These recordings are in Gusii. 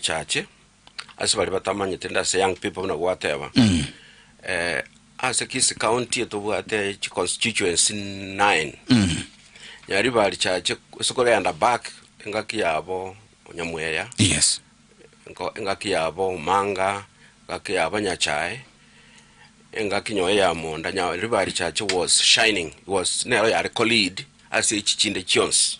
Echache, ase baria batamanyete nde ase young people buna gwateba, eh, ase Kisii county etobwate chi constituency nine, nyari bari chache ase korenda back engaki yabo Nyamweya, Yes. enko- engaki yabo Omanga, engaki yabo Nyachae, engaki nyoyo ya Monda, nyari bari chache was shining, was nero yare co-lead ase echi chinde chionsi.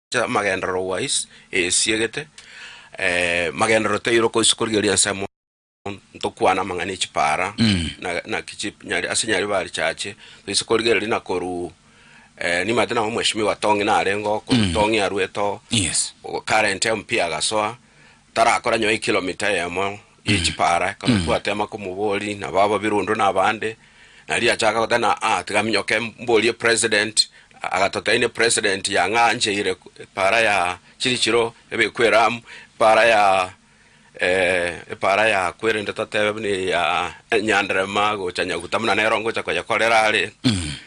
Ase amagenderero wise esiegete magenderero toirokwa goisa korigereria ensemo ntokwane amang'ana echipara na naki chi ase nyaribari chache toise korigereria na koruu nimanyete nabo mweshimiwa Tong'i nareng'o korwa Tong'i arwete oo Yes. Current MP agasoa Tarakora nyowe ekilomita eyemo ye chipaara, kamobwate ama komobori nabo ababirundu na abande, na riria achaka goteba na aa tiga minyoke mborie president, agatoteine president yang'ancheire epaara ya chirichiro ebekwe eramu, epaara ya eh, epaara ya kwerende totebe buna eya nyanderema gocha nyaguta buna nero ngocha koyekorera are.